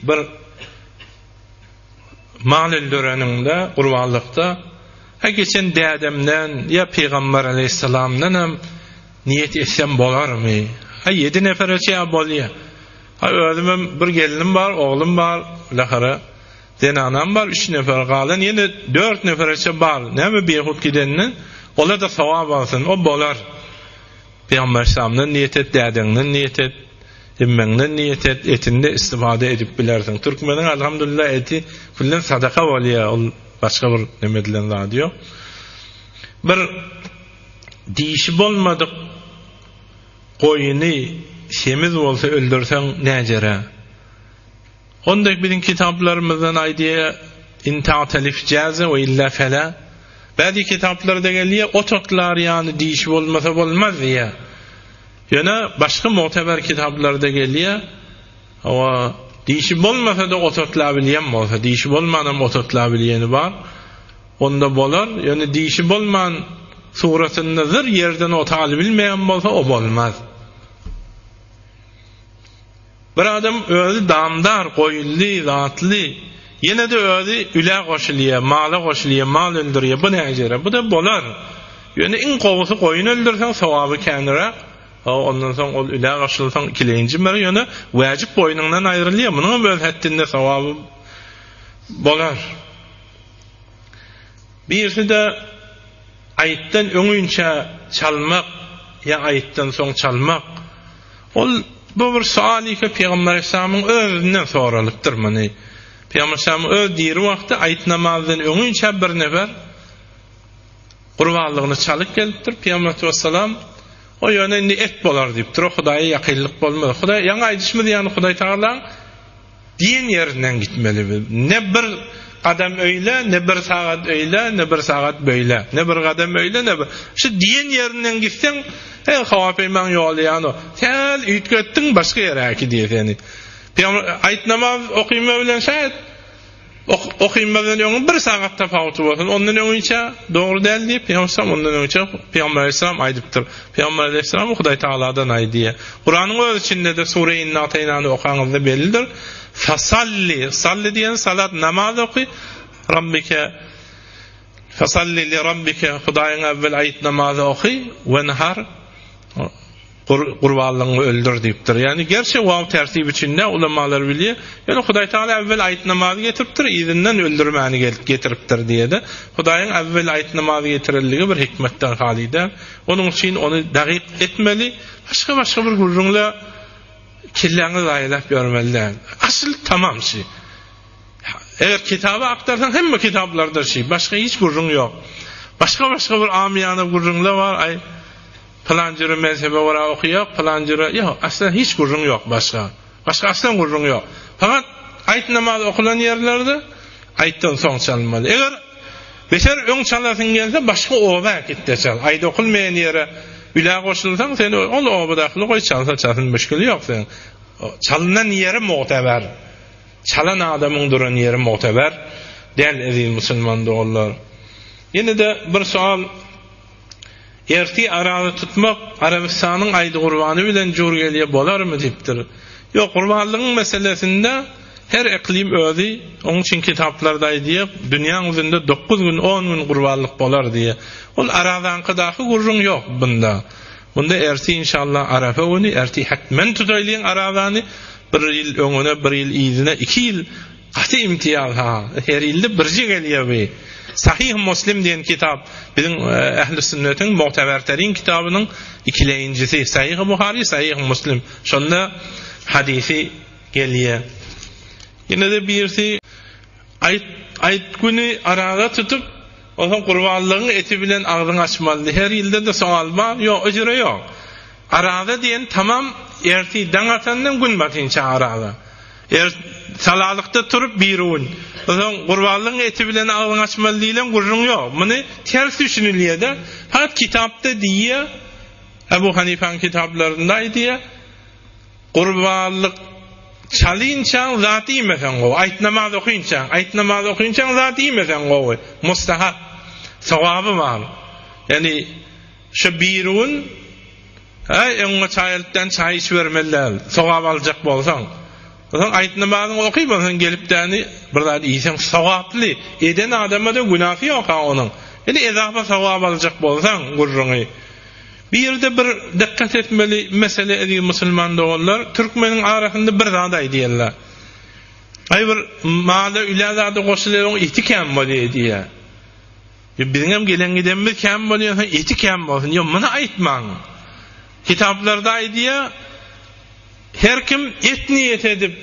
Bir mal öldüreninde, gurbanlykda, He, geçen dädemden ýa pygamber aleýhissalamdan hem niýet etsem bolarmy? He, ýedi nepere çenli bolýar. He, özüm hem bir gelnim bar, oglum bar, bilähire, zenanam bar, üç nefer, galan ýene dört nefereçe bar. Näme bihut gidenden, ola-da sogap alsyn, o bolar. Pygamber Aleyhisselamdan niýet et, dädeňden niýet et, emmeňden niýet et, etinde istifada edip bilersiň. Türkmeniň alhamdulillah eti külden sadaka bolýar, ol başga bir neme edilen zady ýok. Bir dişi bolmadyk goýuny semiz bolsa öldürseň näjere? Hon dek biziň kitaplarymyzdan aýdýa in ta'at alif jaza we illa fala. Bäzi kitaplarda gelýä ot otlar ýany dişi bolmasa bolmaz diýä. Ýöne başga mugteber kitaplarda gelýä hawa dişi bolmasa-da ot otla bilýän bolsa dişi bolmanam ot otla bilýäni bar. Onda bolar. Ýöne dişi bolman suratynda zyr ýerden ot alybilmeýän bolsa o bolmaz. Bir adam özi damdar, goýunly, zatly, ýene-de özi ülä goşulýar, mala goşulýar, mal öldürýär, bu näjere? Bu-da bolar. Ýöne iň gowusy goýun öldürseň, sogaby käniräk. Hawa, ondan soň ol ülä goşulsaň, ikilenji mer, ýöne wäjip boýnuňdan aýrylýar, munuňam öz hetdinde sogaby bolar. Birisi-de aýytdan öňinçä çalmak ýa aýytdan soň çalmak, ol bu bir sual ýeke Pygamber Aleyhissalamyň özünden soralypdyr muny. Pygamber Aleyhissalamyň öz diri wagty aýyt namazdan öňinçä bir nefer gurbanlygyny çalyp gelipdir. Pygamber Aleyhissalatu wessalam, O ýöne indi et bolar diýipdir, o Hudaýa ýakynlyk bolmaz. Hudaý ýaňy aýdyşymyz ýaly Hudaýtagalaň Diýen ýerinden gitmeli bu. Ne bir gadam öýle, ne bir sagat öýle, ne bir sagat böýle. Ne bir gadam öýle, ne bir. Şu diýen ýerinden gitseň, he, howa peýmaň ýoly ýano. Sähel üýtgetdiň, başga ýere äkidýär seni. Pygamber, aýt namaz okyma bilen şähet. Okymazdan öňi bir sagat tapawuty bolsun, ondan öňinçä dogry däl diýip, Pygamberem ondan öňinçä Pygamber aleyhisselam aýdypdyr. Pygamber aleyhisselam Hudaý Tagaladan aýdy. Kuranyň öz içinde-de Sure Inna Ataýnany okaňyzda bellidir. Fasalli, salli diýen salat namaz oky Rabbike Fasalli li Rabbike Hudaýyňa awwel aýt namazy oky wenhar Gurbanlygyňy öldür diýipdir. Ýagny gerçi waw tertip içinde ulamalar bilýär. Ýöne Hudaý Tagala äwwel aýt namazy getiripdir, yzyndan öldürmäni getiripdir diýede. Hudaýyň äwwel aýt namazy getirendigi bir hikmetden haly däl. Onuň üçin ony dagyk etmeli, başga-başga bir gürrüňle kelläňi zaýalap ýörmeli däl. Asyl tamam şi. Eger kitaby aktarsaň hemme kitaplarda şi, başga hiç gürrüň ýok. Başga-başga bir amyýana gürrüňle bar, aý Pylan jüri mezhebe göra oky ýok, pylan jüri, ýok, aslen hiç gürrüň ýok başga. Başga aslen gürrüň ýok. Fakat aýt namazy okulan ýerlerde aýtdan soň çalmaly. Eger beter öň çalasyň gelse başga oba äkit-de çal. Aýt okulmaýan ýere ülä goşulsaň sen ol obadakyly goý çalsa çalsyn müşgili ýok seň. Çalnan ýeri mugteber. Çalan adamyň duran ýeri mugteber däl eziz musulman doganlar. Ýene-de bir soal. Erti Araby tutmak Arabystanyň Aýdy gurbany bilen jur gelýä bolarmy diýipdir. Ýok, gurbanlygyň meselesinde her eklim özi, onuň üçin kitaplarda aýdýa, dünýäň ýüzünde dokuz gün, on gün gurbanlyk bolar diýä. Ol Arazanky daky gürrüň ýok bunda. Bunda erti inşallah Arafa güni, erti hetmen tutaýlyň Arazany, bir ýyl öňüne, bir ýyl yzyna, iki ýyl Gaty imtiýaz ha. Her ilde birje gelýär bi. Sahyh Muslim diýen kitap biziň ähli sünnetiň mugteberterin kitabynyň ikileýinjisi. Sahyh Buhary, Sahyh Muslim. Şonda hadysy gelýär. Ýene-de birisi Aýt Aýt güni araga tutup, onsoň gurbanlygyň eti bilen agzyňy açmalydy. Her ilde-de sowal bar. Ýok, ejire ýok. Araga diýen tamam ertir daň atandan gün batynça araga. Er salalykda turup birun, soň gurbanlygyň eti bilen agzyň açmaly diýlen gürrüň ýok. Muny ters düşünilýär-de. Fakt kitapda diýýär, Ebu Hanifäň kitaplarynda aýdýar, Gurbanlyk çalynçaň zat iýmeseň gowy, aýt namaz okynçaň, aýt namaz okynçaň zat iýmeseň gowy, mustahap, sogaby bar. Ýagny şu birun, Äý, öňňe çaý alyp däni çaý içibermeli däl. Sogap aljak bolsaň. Soň aýt namazyňy oky, onsoň gelip däni bir zat iýseň sogaply. Eden adama-da günäsi ýok-a onuň. Indi ezapa sogap aljak bolsaň, gürrüňi. Bu ýerde bir dykgat etmeli mesele eziz musulman doganlar, türkmeniň arasynda bir zat aýdýarlar. Aý bir mala ülä zady goşulyň eti kän bolýar diýýär. Ýa biziňem gelen-gidenimiz kän bolýarsa, eti kän bolsun. Ýa muny aýtmaň. Kitaplarda aýdýar, her kim et niýet edip,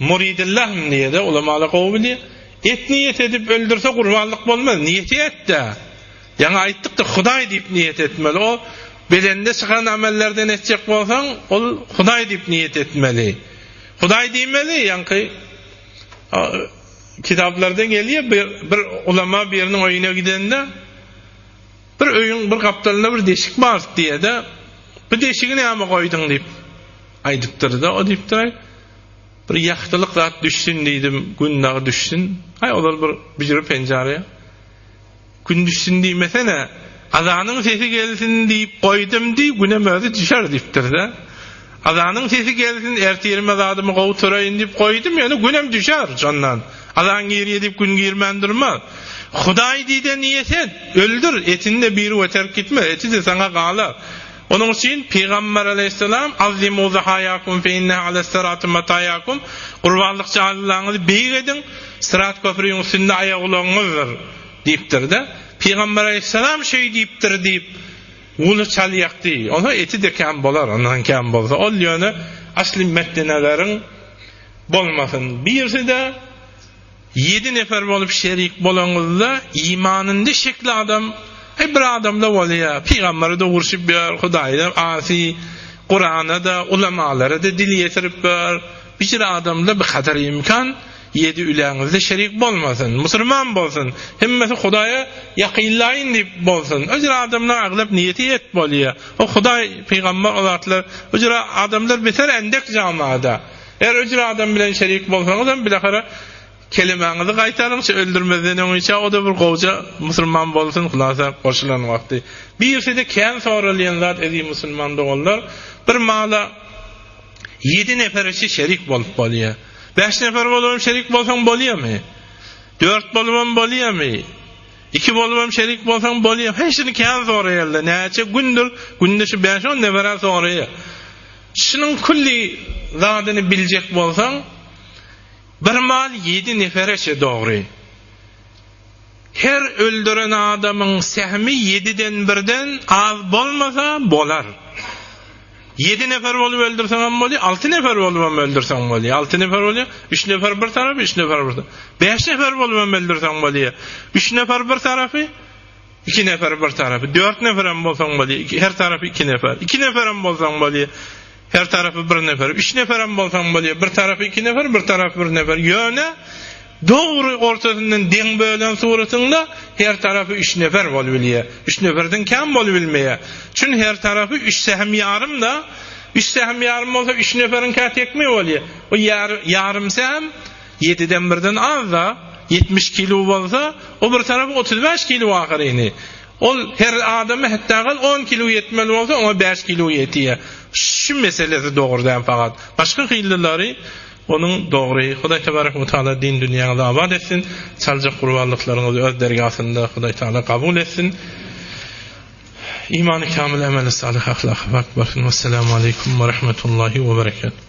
muridillahym diýýär-de, ulamalar gowy bilýär. Et niýet edip öldürse gurbanlyk bolmaz, niýeti et-de. Ýaňy aýtdyk-da, Hudaý diýip niýet etmeli. O bedende çykan amellerden etjek bolsaň, ol Hudaý diýip niýet etmeli. Hudaý diýmeli, ýaňky Kitaplarda gelýär, bir ulama biriniň öýüne gidende, Bir öýüň bir gapdalynda bir deşik bar diýede, Bu deşigi näme goýduň diýip aýdypdyr-da, o diýipdir, Bir ýagtylyk zat düşsün diýdim, gün dagy düşsün. Aý, ozal bir büjre penjara. Gün düşsün diýmesene, azanyň sesi gelsin diýip goýdum diý, günem özi düşer diýipdir-dä. Azanyň sesi gelsin, ertirime zadymy gowturaýyn diýip goýdum, ýöne günem düşer, şondan. Azan girýär diýip gün girmän durmaz. Hudaý diýde niýet et, öldür, etini-de biri-we terk gitmez, eti-de saňa galar. Onuň üçin Pygamber aleýhissalam, Azzimu zahaýakum fe inneha alas-sirati mataýakum, Gurbanlyk jaýlylaryňyzy beýik ediň, syrat köprüniň üstünde aýagulagyňyzdyr. Diýipdir-de, Pygamber aleýhyssalam şeý diýipdir diýip, guly çalýakdy. Onsoň eti-de kän bolar, ondan kän bolsa. Ol ýöne asly metneleriň bolmasyn. Birisi-de ýedi nefer bolup şerik bolaňyzda, imanynda şekli adam, heý bir adam-da bolýar. Pygambere-de urşup ýör, Hudaýa-da asy, Kurana-da, ulamalary-da dil ýetirip ýör. Biçire adam-da bikadar imkan. Ýedi üleňizde şerik bolmasyn, musulman bolsun, hemmesi Hudaýa ýakynlaýyn diýip bolsun. Öjra adamlaň aglap niýeti et bolýa. O Hudaý, pygambar o zatlar, öjra adamlar beter endek jamada. Eger öjra adam bilen şerik bolsaňyzam bilahara kelimäňizi gaýtaryňça öldürmezden öň içä oda bir gowja musulman bolsun hulasa goşulan wagty. Birside kän soralýan zat eziz musulman doganlar bir mala Ýedi nefer üçi şerik bolup bolýar. Bäş nefer bolup hem şerik bolsaň bolýarmy? Dört bolup hem bolýarmy? Iki bolup hem şerik bolsaň bolýar. Heý, şuny kän soraýarlar. Näçe gündür, günde şu bäş-on nebere soraýar. Şunuň külli zadyny biljek bolsaň, bir mal ýedi nefere çe dogry. Her öldüren adamyň sähmi ýediden birden az bolmasa bolar. Ýedi nefer bolup öldürseňem bolýar, alty nefer bolubam öldürseň bolýar. Alty nefer bolýar, üç nefer bir tarapy, üç nefer bir tarapy. Bäş nefer bolubam öldürseň bolýar. Üç nefer bir tarapy, iki nefer bir tarapy. Dört neferem bolsaň bolýar, her tarapy iki nefer. Iki neferem bolsaň bolýar. Her tarapy bir nefer, üç neferem bolsaň bolýar, bir tarapy iki nefer, bir tarapy bir nefer. Ýöne dogry ortasyndan deň bölen suratyňda her tarapy üç nefer bolup bilýär. Üç neferden kän bolup bilmeýär. Çünki her tarapy üç sähem ýarym-da. Üç sähem ýarym bolsa üç neferiň kä tekmegi bolýar. O ýarym sähem ýediden birden az-da. Ýetmiş kilo bolsa, o bir tarapy otuz bäş kilo ahyryny. Ol her adama hetda gal on kilo ýetmeli bolsa oňa bäş kilo ýetýä. Şu meselesi dogry däl fakat. Başga hillilary onuň dogry. Hudaý tebarek we taala din dünýäňizi abat etsin. Çaljak gurbanlyklaryňyzy öz dergasynda Hudaý taala kabul etsin. Imany kamyl emeli salyh ahlaky pak bolsun. Wessalamu aleykum we rahmetullahi we berekatuh.